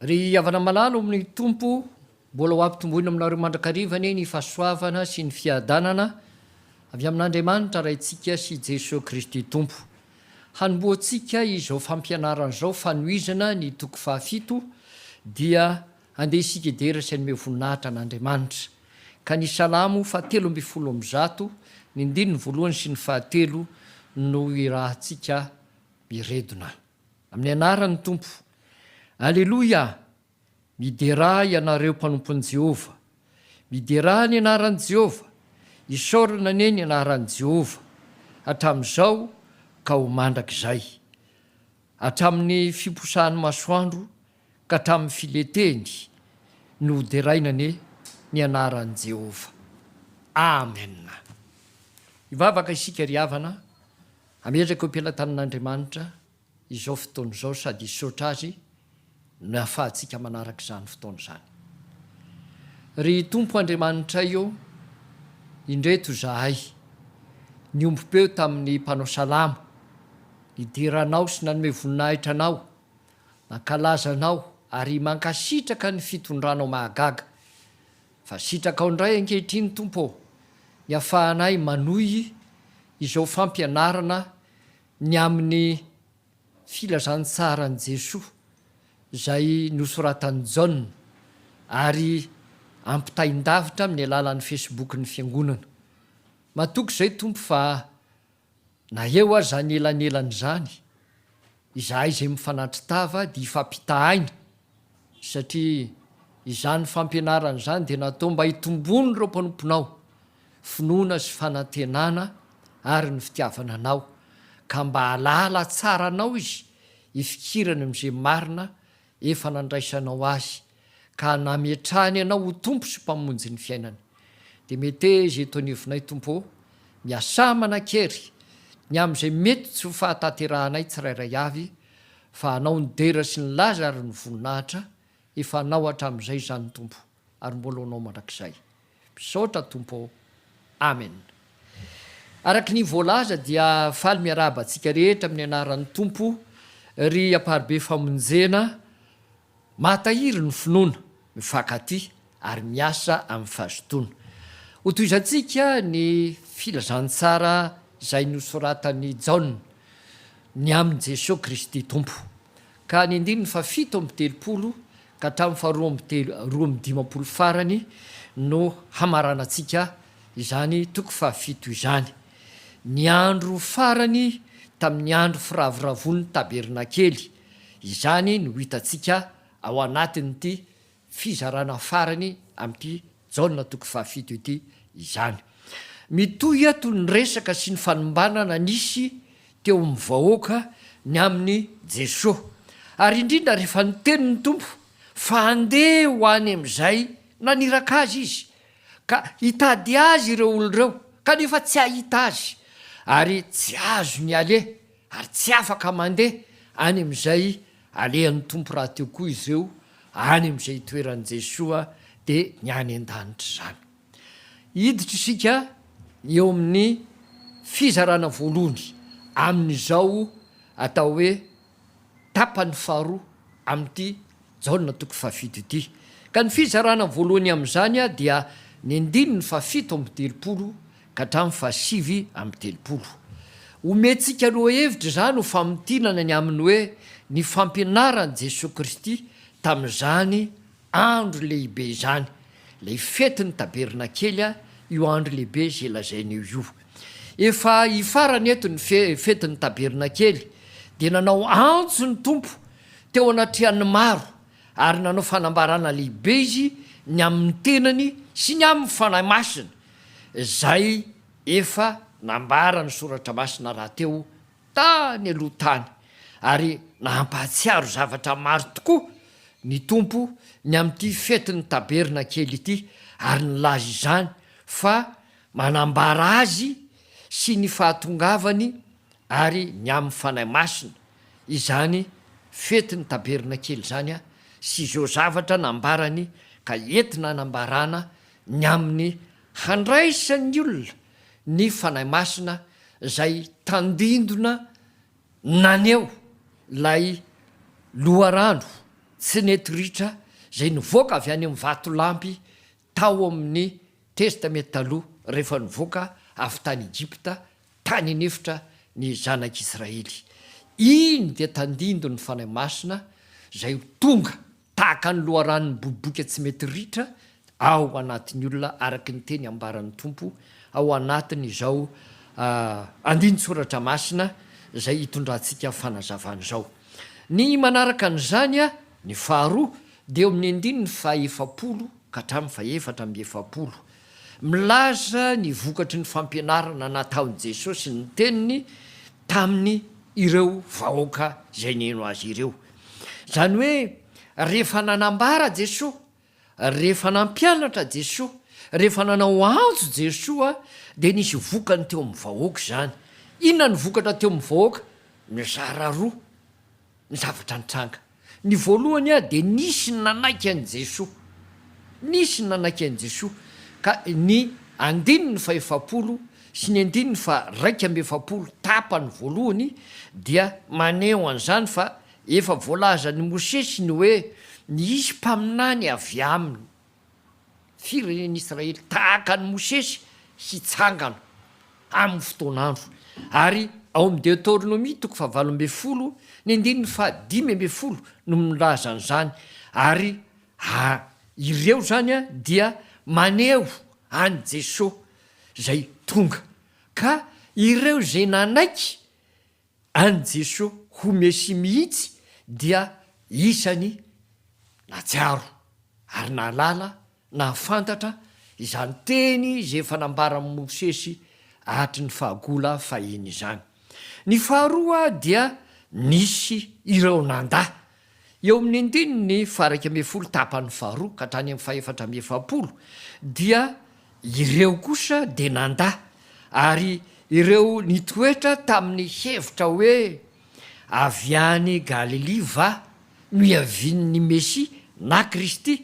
Ry havana malala ao amin'ny Tompo, mbola ho ampitomboina aminareo mandrakariva anie ny fahasoavana sy ny fiadanana avy amin'Andriamanitra Raintsika sy Jesoa Kristy Tompo. Hanombohantsika izao fampianarana izao fanohizana ny toko fahafito dia andeha isika hidera sy hanome voninahitra an'Andriamanitra ka ny Salamo faha telo ambin'ny folo amby zato ny ndininy voalohany sy ny fahatelo no irahantsika miredona. Amin'ny anaran'ny Tompo. Aleloia! Miderà ianareo mpanompon'i Jehovah. Miderà ny anaran'i Jehovah. Isaorana anie ny anaran'i Jehovah, hatramin'izao ka ho mandrakizay. Hatramin'ny fiposahan'ny masoandro ka hatramin'ny fileteny no hoderaina anie ny anaran'i Jehovah. Amen! Hivavaka isika ry havana. Hametraka eo am-pelatanin'Andriamanitra izao fotoana izao sady hisaotra Azy ny hahafahantsika manaraka izany fotoana izany. Ry Tompo Andriamanitray ô, indreto izahay, niombom-peo tamin'ny mpanao salamo, nidera Anao sy nanome voninahitra Anao, mankalaza Anao ary mankasitraka ny fitondranao mahagaga. Fa sitrakao indray ankehitriny Tompo ô, ny hafahanay manohy izao fampianarana ny amin'ny filazantsaran'i Jesoa izay nosoratan'i Jaona ary ampitaindavitra amin'ny alalan'ny Facebook-n'ny Fiangonana. Matoky izay Tompo fa. Na eo aza anelanelan'izany, izahay izay mifanatri-tava dia hifampita aina satria izany fampianarana izany dia natao mba hitomboan'ireo mpanomponao ny finoana sy fanantenana ary ny fitiavana Anao ka mba hahalala tsara Anao izy hifikirany amin'izay marina efa nandraisanao azy ka nametrahany anao ho Tompo sy Mpamonjy ny fiainany. Dia meteza eto anivonay Tompo ô, miasà manan-kery ny amin'izay mety tsy ho fahatanterahanay tsirairay avy, fa Anao nidera sy nilaza ary ny voninahitra efa Anao hatramin'izay izany Tompo. ary mbola honao mandrakizay. Misaotra Tompo ô. Amen. Araka ny voalaza dia faly miarahaba antsika rehetra amin'ny anaran'ny Tompo ry Amparibe Famonjena mahatahiry ny finoana, mifankatia ary miasa amin'ny fahazotoana. Hotohizantsika ny filazantsara izay nosoratan'i Jaona ny amin'i Jesoa Kristy Tompo. Ka ny andininy fahafito amby telopolo ka hatramin'ny faharoa amby telo roa amby dimampolo farany no hamaranantsika izany toko fahafito izany. Ny andro farany tamin'ny andro firavoravoan'ny tabernakely, izany no hitantsika ao anatin'ity fizarana farany amin'ity Jaona toko fahafito ity izany. Mitohy eto ny resaka sy ny fanombanana nisy teo amin'ny vahoaka ny amin'i Jesoa, ary indrindra rehefa niteny ny Tompo fa handeha ho any amin'izay naniraka Azy Izy, ka hitady Azy ireo olona ireo, kanefa tsy hahita Azy, ary tsy azony aleha ary tsy afaka mandeha any amin'izay alehan'ny Tompo rahateo koa izy ireo any amin'izay itoeran'i Jesoa dia ny any an-danitra izany. Hiditra isika eo amin'ny fizarana voalohany amin'izao atao hoe tapany faharoa amin'ity Jaona toko fahafito ity. Ka ny fizarana voalohany amin'izany dia ny andininy fahafito amby telopolo ka hatramin'ny fahasivy amby telopolo. Omentsika lohahevitra izany ho famintinana ny amin'ny hoe ny fampianaran'i Jesoa Kristy tamin'izany andro lehibe izany, ilay fetin'ny tabernakely, io andro lehibe izay lazaina eo io. Efa hifarana eto ny fetin'ny tabernakely dia nanao antso ny Tompo Teo anatrehan'ny maro ary nanao fanambarana lehibe izy ny amin'ny tenany sy ny amin'ny Fanahy Masina izay efa nambaran'ny Soratra Masina rahateo tany aloha tany ary nampahatsiaro zavatra maro tokoa ny Tompo ny amin'ity fetin'ny Tabernakely ity ary nilaza izany fa manambara Azy sy ny fahatongavany ary ny amin'ny Fanahy Masina izany fetin'ny Tabernakely izany sy izao zavatra nambarany ka entina hanambarana ny amin'ny handraisan'ny olona ny Fanahy Masina izay tandindona naneho ilay loharano tsy nety ritra izay nivoaka avy any amin'ny vatolampy Tao amin'ny Testamenta Taloha, rehefa nivoaka avy tany Egypta tany an'efitra ny Zanak'Israely, iny dia tandindon'ny Fanahy Masina izay ho tonga tahaka ny loharano miboboka tsy mety ritra ao anatin'ny olona araka ny teny ambaran'ny Tompo ao anatin'izao andinin-tsoratra masina izay hitondrantsika fanazavana izao. Ny manaraka an'izany Ny faharoa dia eo amin'ny andininy fahaefapolo ka hatramin'ny fahefatra amby efapolo. Milaza ny vokatry ny fampianarana nataon'i Jesosy ny teniny tamin' ireo vahoaka izay nihaino azy ireo. Izany hoe rehefa nanambara Jesoa, rehefa nampianatra Jesoa, rehefa nanao antso Jesoa dia nisy vokany teo amin'ny vahoaka izany. Inona no vokatra teo amin'ny vahoaka? Mizara roa. ny zavatra nitranga. Ny voalohany a dia nisy ny nanaiky an'i Jesoa. Nisy ny nanaiky an'i Jesoa ka ny andininy fahefapolo sy ny andininy faharaika amby efapolo tapany voalohany dia maneho an'izany fa efa voalazan'i Mosesy ny hoe nisy mpaminany avy aminy firenen'ny Israely tahaka an'i Mosesy hitsangana amin'ny fotoan'andro. Ary ao amin'ny Deoteronomia toko fahavalo ambin'ny folo, ny andininy fahadimy ambin'ny folo no milaza an'izany, ary a ireo izany dia maneho an'i Jesoa izay tonga, ka ireo izay nanaiky An'i Jesoa ho Mesia mihitsy dia isany nahatsiaro ary nahalala, nahafantatra, izany teny izay efa nambaran'i Mosesy hatry ny fahagola fahiny izany. Ny faharoa dia nisy ireo nanda Eo amin'ny andininy faha-iraika ambin'ny folo tapany faharoa ka hatrany amin'ny fahefatra amby efapolo dia ireo kosa dia nandà ary ireo nitoetra tamin'ny hevitra hoe avy any Galilia va no hiavian'ny Mesia na Kristy,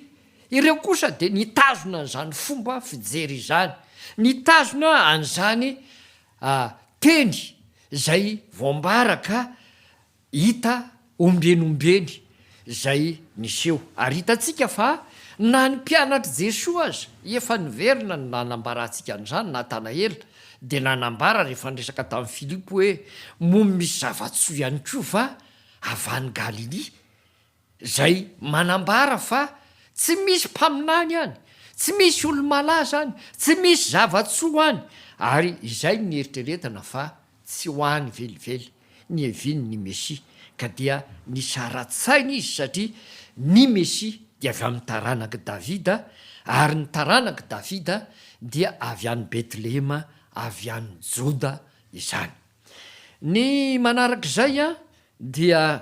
ireo kosa dia nitazona an'izany fomba fijery izany, nitazona an'izany teny izay voambara ka Hita ombieny ombieny izay niseho, ary hitantsika fa na ny mpianatr'i Jesoa aza, efa niverina no nanambara antsika an'izany, Natanaela dia nanambara rehefa niresaka tamin'i Filipo hoe, Moa misy zava-tsoa ihany koa va avy any Galilia? Izay manambara fa tsy misy mpaminany any, tsy misy olo-malaza any, tsy misy zava-tsoa any, ary izay nieritreretana fa tsy ho any velively, nihaviany ny Mesia, ka dia nisaratsaina izy satria ny Mesia dia avy amin'ny taranak'i Davida, ary ny taranak'i Davida dia avy any Betlehema avy any Joda izany. Ny manarak'izay dia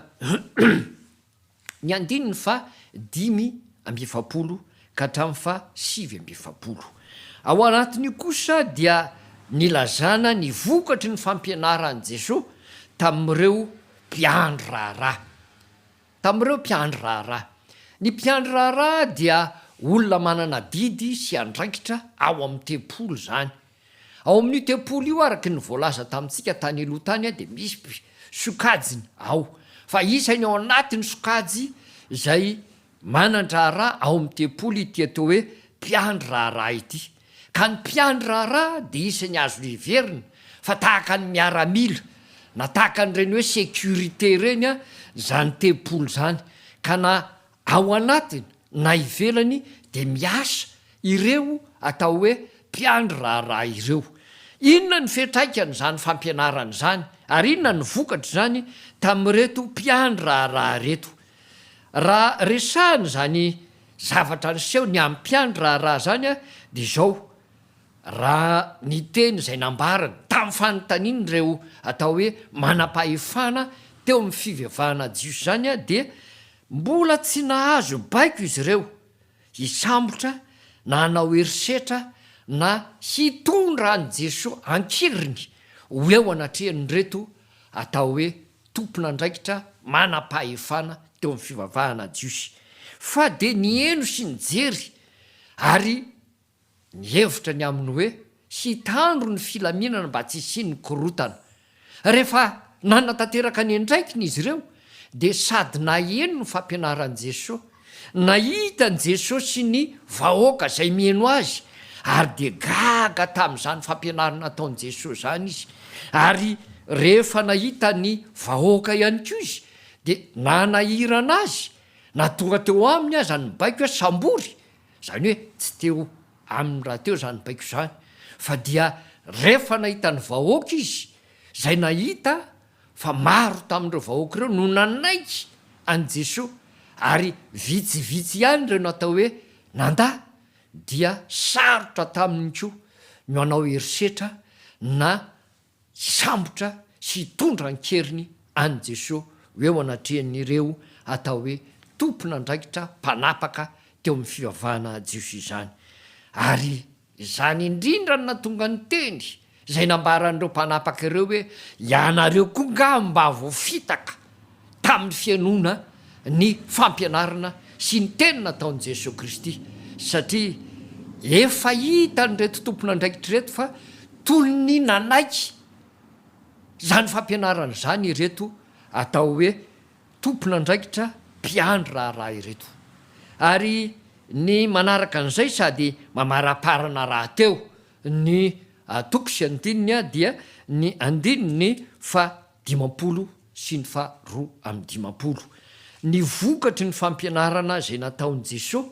ny andininy faha dimy amby efapolo ka hatramin'ny faha sivy amby efapolo. Ao anatin'io kosa dia nilazana ny vokatry ny fampianaran'i Jesoa tamin'ireo mpiandry raharaha. Tamin'ireo mpiandry raharaha. Ny mpiandry raharaha dia olona manana adidy sy andraikitra ao amin'ny tempoly izany. Ao amin'io tempoly io araka ny voalaza tamintsika tany aloha tany dia misy sokajiny ao fa isany ao anatin'ny sokajy izay manan-draharaha ao amin'ny tempoly ity atao hoe mpiandry raharaha ity ka ny mpiandry raharaha dia isany azo heverina fa tahaka ny miaramila na tahaka an'ireny hoe sécurité ireny izany tempoly izany ka na Ao anatiny na ivelany dia miasa ireo atao hoe mpiandry raharaha ireo. Inona ny fiantraikan'izany fampianarana izany ary inona no vokatr'izany tamin'ireto mpiandry raharaha ireto? Raha resahina izany zavatra niseho ny amin'ny mpiandry raharaha izany dia izao raha ny teny izay nambarany tamin'ny fanontaniany ireo atao hoe manam-pahefana teo amin'ny fivavahana jiosy izany dia Mbola tsy nahazo baiko izy ireo hisambotra na hanao herisetra na hitondra an'i Jesoa an-keriny ho eo anatrehan'ireto atao hoe tompon'andraikitra manam-pahefana teo amin'ny fivavahana jiosy, fa dia niheno sy nijery ary Nihevitra ny aminy hoe hitandro ny filaminana mba tsy hisian'ny korontana. Rehefa nanatanteraka ny andraikiny izy ireo, dia sady naheno ny fampianaran'i Jesosy, nahita an'i Jesosy sy ny vahoaka izay mihaino azy, ary dia gaga tamin'izany fampianarana nataon'i Jesosy izany izy. Ary rehefa nahita ny vahoaka ihany koa izy, dia nanahirana azy, na tonga teo aminy aza ny baiko hoe sambory, Izany hoe tsy teo aminy rahateo izany baiko izany fa dia rehefa nahita ny vahoaka izy, izay nahita fa maro tamin'ireo vahoaka ireo no nanaiky an'i Jesoa ary vitsivitsy ihany ireo natao hoe nandà dia sarotra taminy koa ny hanao herisetra na hisambotra sy hitondra an-keriny an'i Jesoa ho eo anatrehan'ireo atao hoe tompon'andraikitra mpanapaka teo amin'ny fivavahana jiosy izany. Ary izany indrindra no nahatonga ny teny izay nambaran'ireo mpanapaka ireo hoe, Ianareo koa angaha mba voafitaka? tamin'ny fihainoana ny fampianarana sy ny teny nataon'i Jesoa Kristy, satria efa hitan'ireto tompon'andraikitra ireto fa toy ny nanaiky izany fampianarana izany ireto atao hoe tompon'andraikitra mpiandry raharaha ireto. Ary ny manaraka an'izay sady mamaraparana rahateo ny toko sy andininy dia ny andininy faha dimampolo sy ny faha roa amin'ny dimampolo, ny vokatry ny fampianarana izay nataon'i Jesoa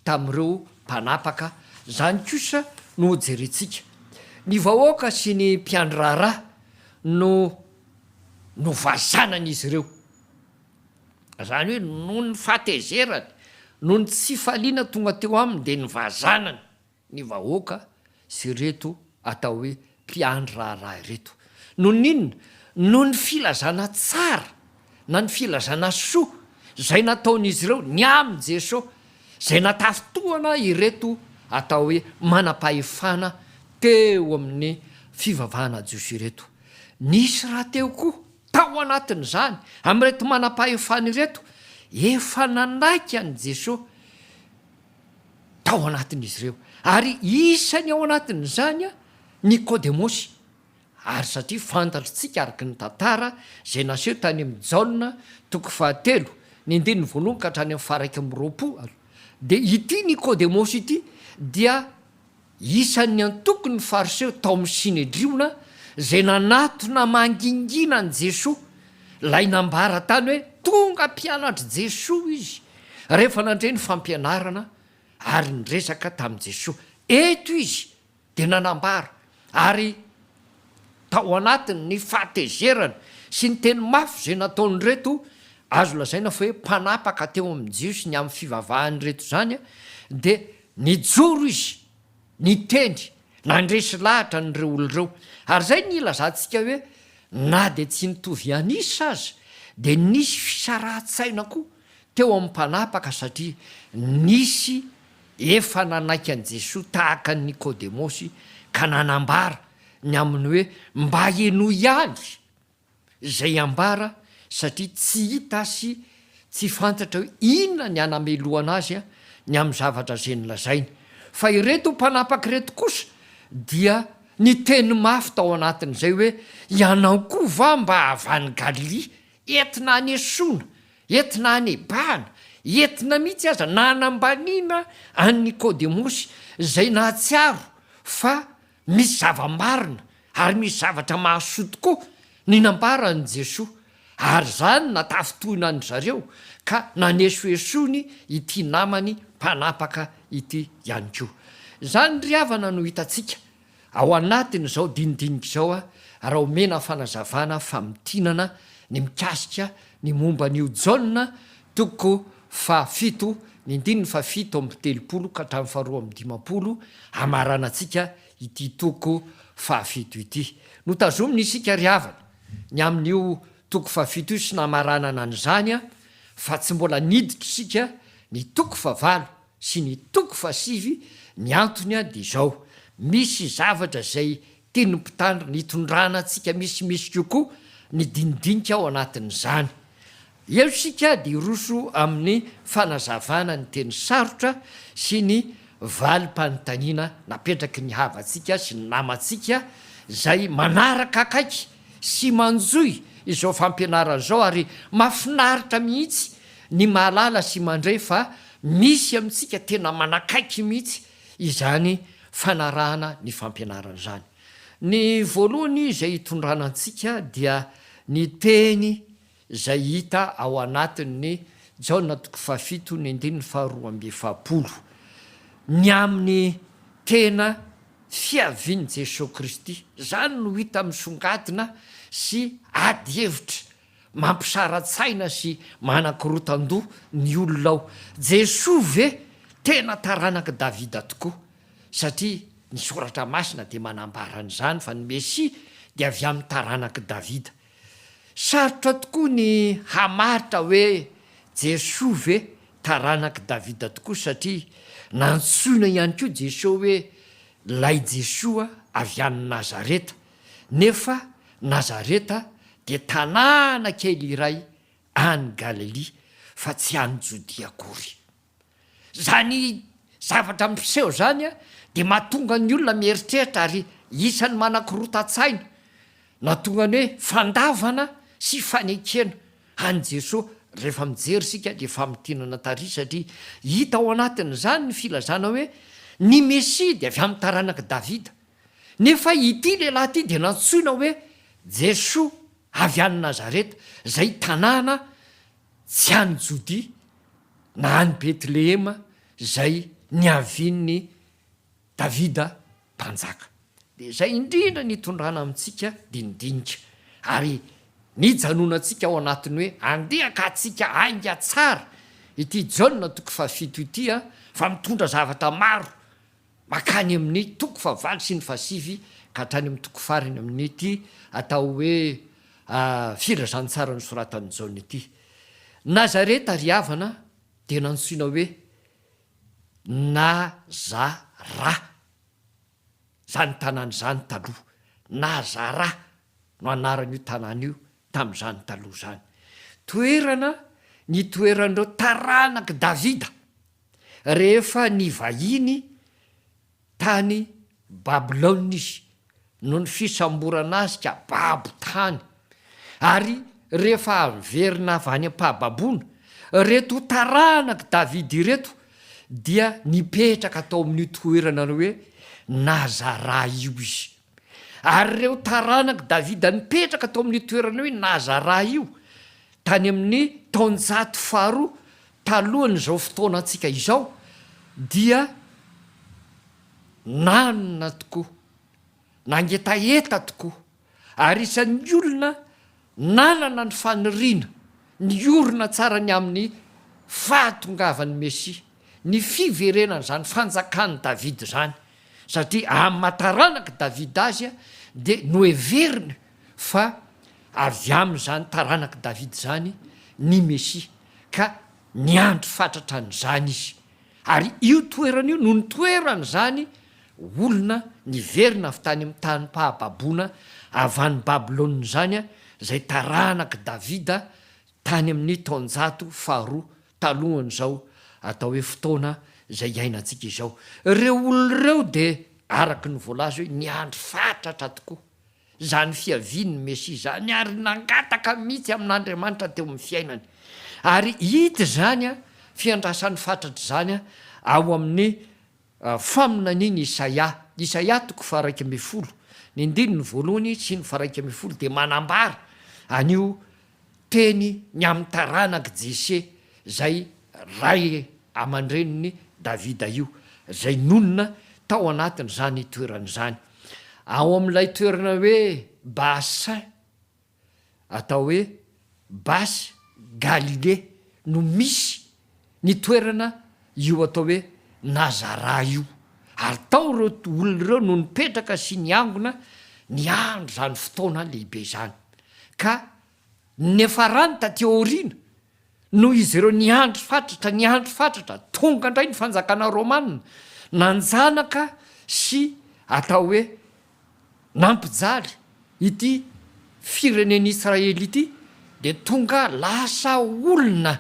tamin'ireo mpanapaka, izany kosa no hojerentsika. Ny vahoaka sy ny mpiandry raharaha no novazanan'izy ireo. Izany hoe noho ny fahatezerany, noho ny tsy fahaliana tonga teo aminy dia nivazanany. ny vahoaka sy ireto atao hoe mpiandry raharaha ireto. Noho ny inona? Noho ny filazana tsara na ny filazana soa izay nataon'izy ireo ny amin'i Jesoa izay natafintohana ireto atao hoe manam-pahefana teo amin'ny fivavahana jiosy ireto. Nisy rahateo koa tao anatin'izany amin'ireto manam-pahefana ireto efa nanaiky an'i Jesoa. tao anatin'izy ireo, ary isany ao anatin'izany Nikodemosy, ary satria fantatr'tsika araka ny tantara izay naseho tany amin'ny Jaona toko fahatelo ny andininy voalohany ka hatrany amin'ny faharaika amby roapolo, dia ity Nikodemosy ity dia Isan'ny antokon'ny Fariseo tao amin'ny Synedriona izay nanatona mangingina an'i Jesoa, ilay nambara tany hoe tonga mpianatr'i Jesoa izy rehefa nandre ny fampianarana ary niresaka tamin'i Jesoa. Eto izy dia nanambara ary tao anatin'ny fahatezerany sy ny teny mafy izay nataon'ireto azo lazaina fa hoe mpanapaka teo amin'ny Jiosy ny amin'ny fivavahan'ireto izany dia Nijoro izy, niteny, nandresy lahatra an'ireo olona ireo. Ary izay no ilazantsika hoe na dia tsy nitovy an'isa aza, dia nisy fisarahan-tsaina koa teo amin'ny mpanapaka satria nisy efa nanaiky an'i Jesoa tahaka an'i Nikodemosy ka nanambara ny aminy hoe mba henoy ihany izay ambara satria tsy hita sy tsy fantatra hoe inona ny anamelohana azy ny amin'ny zavatra izay nolazainy. Fa ireto mpanapaka ireto kosa dia niteny mafy tao anatin'izay hoe, Ianao koa va mba avy any Galilia? Entina hanesoana, entina hanebahana, entina mihitsy aza nanambaniana an'i Nikodemosy, izay nahatsiaro fa Misy zava-marina ary misy zavatra mahasoa tokoa ny nambaran'i Jesoa, ary izany natafintohina an-dry zareo ka nanesoesony ity namany mpanapaka ity ihany koa. Izany ry havana no hitantsika ao anatin'izao dinidinika izao raha omena fanazavana famintinana ny mikasika ny momba an'io Jaona toko Fahafito, Ny andininy fahafito amby telopolo ka hatramin'ny faharoa amby dimampolo hamaranantsika ity toko fahafito ity. Notazomina isika ry havana ny amin'io toko fahafito io sy namaranana an'izany fa tsy mbola niditra isika ny toko fahavalo sy ny toko fahasivy, ny antony dia izao, misy zavatra izay Tian'ny mpitandro ny hitondrana antsika misimisy kokoa ny dinidinika ao anatin'izany. Eo isika dia hiroso amin'ny fanazavana ny teny sarotra sy ny valim-panontaniana napetraky ny havantsika sy ny namantsika izay manaraka akaiky sy manjohy izao fampianarana izao ary mahafinaritra mihitsy ny mahalala sy mandre fa misy amintsika tena manakaiky mihitsy izany fanarahana ny fampianarana izany. Ny voalohany izay hitondrana antsika dia ny teny izay hita ao anatin'ny Jaona toko fahafito ny andininy faharoa amby efapolo. Ny amin'ny tena fiavian'i Jesoa Kristy, izany no hita misongadina sy ady hevitra. Mampisara-tsaina sy manakorotan-doha ny olona ao. Jesoa ve tena taranak'i Davida tokoa? Satria ny Soratra Masina dia manambara an'izany fa ny Mesia dia avy amin'ny taranak'i Davida. Sarotra tokoa ny hamaritra hoe Jesoa ve taranak'i Davida tokoa satria nantsoina ihany koa Jesoa hoe Ilay Jesoa avy any Nazareta. Nefa Nazareta dia tanàna kely iray any Galilia fa tsy any Jodia akory. Izany zavatra miseho izany dia mahatonga ny olona mieritreritra ary isan'ny manakorontan-tsaina nahatonga ny hoe fandavana sy fanekena an'i Jesoa rehefa mijery isika ilay famintinana tary satria hita ao anatin'izany ny filazana hoe ny Mesia dia avy amin'ny taranak'i Davida. Nefa ity lehilahy ity dia nantsoina hoe Jesoa avy any Nazareta, izay tanàna tsy any Jodia, na any Betlehema izay niavian'i Davida Mpanjaka. Dia izay indrindra no itondrana amintsika dinidinika, ary nijanonantsika ao anatin'ny hoe andeha ka hatsika hainga tsara ity Jaona toko fahafito ity, fa mitondra zavatra maro. Mankany amin' ny toko fahavalo sy ny fahasivy ka hatrany amin' ny toko farany amin' ity atao hoe Filazantsara nosoratan' i Jaona ity. Nazareta ry havana dia nantsoina hoe Nazara izany tanàna izany taloha. Nazara no anaran' io tanàna io tamin' izany taloha izany. Toerana nitoeran' ireo taranak' i Davida. Rehefa nivahiny tany Babylona izy, noho ny fisamborana azy ka babo tany, ary rehefa averina avy any am-pahababoana, ireto taranak'i Davida ireto dia nipetraka tao amin'io toerana hoe Nazaraha io izy. Ary ireo taranak'i Davida nipetraka tao amin'io toerana hoe Nazarà io, tany amin'ny taonjato faharoa talohan'izao fotoanantsika izao, dia nanana tokoa, nangetaheta tokoa, ary isan'ny olona Nanana ny faniriana ny hiorina tsara ny amin'ny fahatongavan'ny Mesia, ny fiverenan'izany fanjakan'i Davida izany, satria aman-taranak'i Davida azy dia noheveriny fa avy amin'izany taranak'i Davida izany ny Mesia, ka niandry fatratra an'izany izy. Ary io toerana io no nitoeran'izany olona niverina avy tany amin'ny tanim-pahababoana avy any Babylona izany, izay taranak'i Davida tany amin'ny taonjato faharoa talohan'izao atao hoe fotoana izay iainantsika izao. Ireo olona ireo dia, araka ny voalaza hoe, niandry fatratra tokoa. Izany fiavian'ny Mesia izany ary nangataka mihitsy amin'Andriamanitra teo amin'ny fiainany. Ary hita izany fiandrasan'ny fatratra izany ao amin'ny faminanian'i Isaia. Isaia toko faharaika ambin'ny folo, ny andininy voalohany sy ny faharaika ambin'ny folo dia manambara an'io teny ny amin'ny taranak'i Jese, izay ray aman-drenin'i Davida io, izay nonina tao anatin'izany toerana izany, ao amin'ilay toerana hoe Baasin, atao hoe Bas-Galilée, no misy ny toerana io atao hoe Nazarà io, ary tao ireo olona ireo no nipetraka sy niangona niandry izany fotoana lehibe izany, ka niafarany taty aoriana, noho izy ireo niandry fatratra, niandry fatratra, tonga indray ny fanjakana Rômana, nanjanaka sy atao hoe Nampijaly ity firenen'i Israely ity dia tonga lasa olona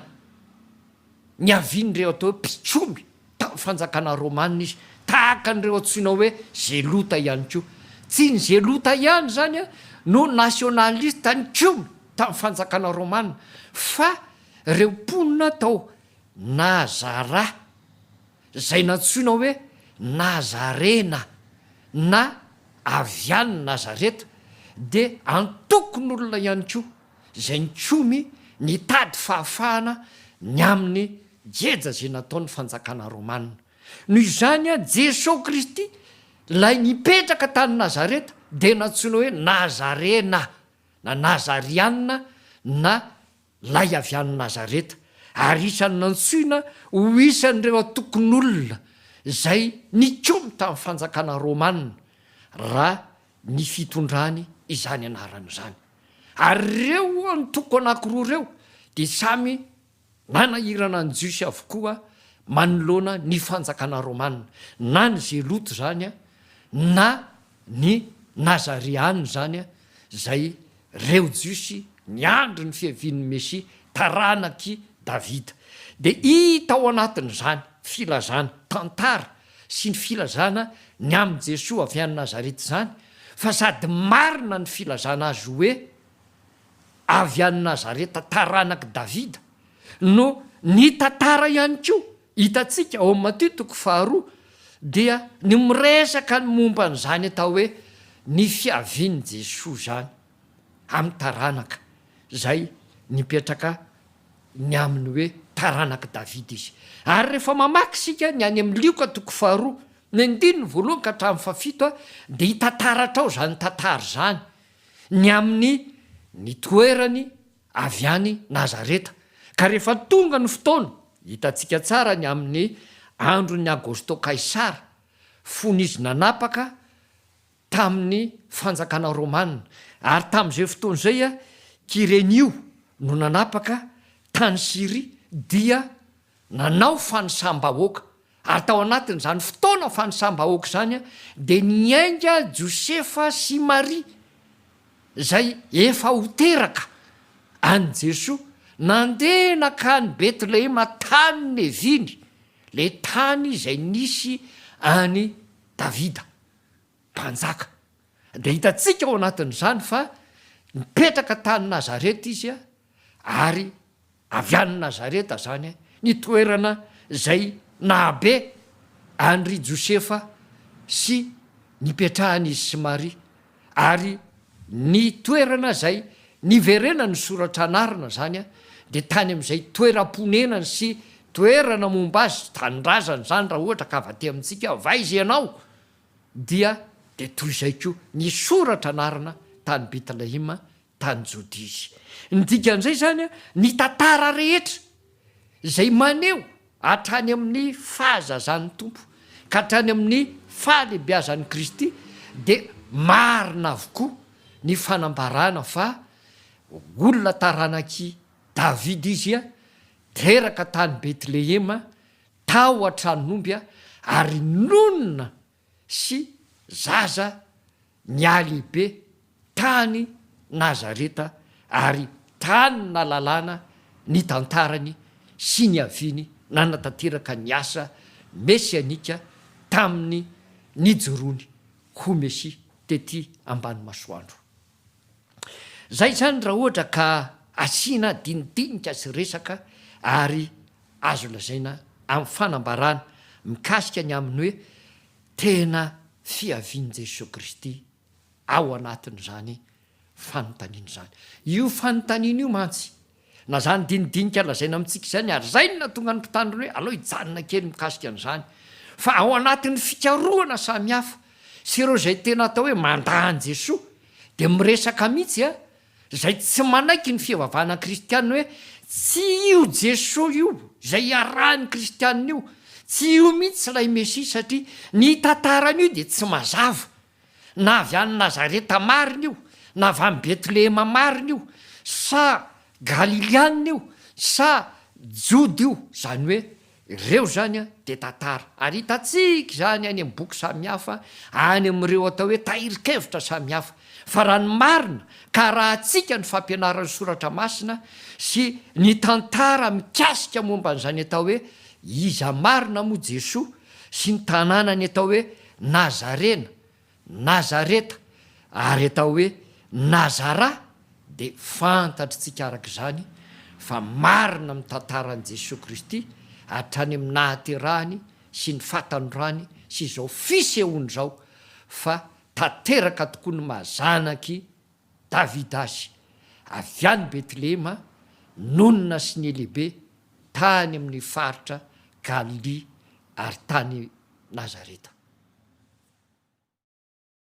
niavian'ireo atao hoe mpitsomy tamin'ny fanjakana romana izy, tahaka an'ireo antsoina hoe Zelota ihany koa. Tsy ny Zelota ihany izany no nasionalista nikomy tamin'ny fanjakana romana fa ireo mponina tao Nazarà izay nantsoina hoe Nazarena na avy any Nazareta, dia antokon'olona ihany koa izay nikomy nitady fahafahana ny amin'ny geja izay nataon'ny fanjakana romanina. Noho izany, Jesoa Kristy, ilay nipetraka tany Nazareta, dia nantsoina hoe Nazarena na Nazariana na Lay avy any Nazareta, ary isan'ny nantsoina ho isan'ireo antokon'olona izay nikomy tamin'ny fanjakana romana, raha ny fitondrany izany anarana izany. Ary ireo antoko anankiroa ireo dia samy nanahirana ny Jiosy avokoa manoloana ny fanjakana romana, na ny Zelota izany na ny Nazareana izany izay Reo Jiosy niandry ny fiavian'ny Mesia, taranak'i Davida. Dia hita ao anatin'izany filazana, tantara, sy ny filazana ny amin'i Jesoa avy any Nazareta izany, fa sady marina ny filazana azy hoe avy any Nazareta, taranak'i Davida, no nitantara ihany koa Hitantsika ao amin'ny Matio toko faharoa dia ny miresaka ny momba an'izany atao hoe ny fiavian'i Jesoa izany amin'ny taranaka izay nipetraka ny amin'ny hoe taranak'i Davida izy. Ary rehefa mamaky isika ny any amin'ny Lioka toko faharoa, ny andininy voalohany ka hatramin'ny fahafito dia hita taratra ao izany tantara izany ny amin'ny nitoerany avy any Nazareta, ka rehefa tonga ny fotoana, hitantsika tsara ny amin'ny andron'i Agosto Kaisara, fony izy nanapaka tamin'ny fanjakana romana, ary tamin'izay fotoana izay Kyrenio no nanapaka tany Syria dia nanao fanisam-bahoaka, Ary tao anatin'izany fotoana fanisam-bahoaka izany dia niainga Josefa sy Maria, izay efa ho teraka, an'i Jesoa. Nandeha nankany Betlehema tany Neviny, ilay tany izay nisy an'i Davida, mpanjaka. Dia hitantsika ao anatin'izany fa nipetraka tany Nazareta izy ary. Avy any Nazareta izany ny toerana izay nahabe an-dry Josefa sy nipetrahan'izy sy Maria, ary ny toerana izay niverenan'ny soratra anarina izany dia tany amin'izay toeram-ponenany sy toerana momba azy, tanindrazany izany raha ohatra ka vate amintsika, va izy ianao? dia dia toy izay koa ny soratra anarina tany Betlehema tany Jodia izy. Ny dikan'izay izany, ny tantara rehetra izay maneho hatrany amin'ny fahazazan'ny Tompo ka hatrany amin'ny fahalehibiazan'i Kristy dia marina avokoa ny fanambarana fa olona taranak'i Davida izy, teraka tany Betlehema, tao an-tranon'omby ary nonina sy zaza nihalehibe tany Nazareta ary tany na lalàna ny tantarany sy niaviany nanatanteraka ny asa mesianika tamin'ny nijoroany ho Mesia tety ambany masoandro. Izay izany raha ohatra ka asiana dinidinika sy resaka ary azo lazaina amin'ny fanambarana mikasika ny amin'ny hoe tena fiavian'i Jesoa Kristy ao anatin'izany fanontaniana izany. Io fanontaniana io mantsy Na izany dinidinika lazaina amintsika izany ary izay no nahatonga ny mpitandro ny hoe alao hijanona kely mikasika an'izany fa ao anatin'ny fikarohana samy hafa sy ireo izay tena atao hoe mandà an'i Jesoa dia miresaka mihitsy a izay tsy manaiky ny fivavahana kristianina hoe tsy io Jesoa io izay iarahan'ny kristianina io, tsy io mihitsy ilay Mesia satria ny tantara an'io dia tsy mazava. Na avy any Nazareta marina io, na avy any Betlehema marina io, sa Galiliana io, sa Joda io, izany hoe, ireo izany dia tantara, ary hitantsika izany any amin'ny boky samihafa, any amin'ireo atao hoe tahirin-kevitra samihafa, fa raha ny marina, ka arahantsika ny fampianaran'ny Soratra Masina sy ny tantara mikasika momba an'izany atao hoe iza marina moa Jesoa, sy ny tanànany atao hoe Nazarena, Nazareta, ary atao hoe Nazara dia fantatritsika araka izany fa marina amin'ny tantaran'i Jesoa Kristy hatrany amin'ny nahaterahany sy ny fahatanorany sy izao fisehoany izao fa tanteraka tokoa ny maha zanak'i Davidasy, avy any Betlehema, nonina sy nilehibe tany amin' ny faritra Galilia ary tany Nazareta.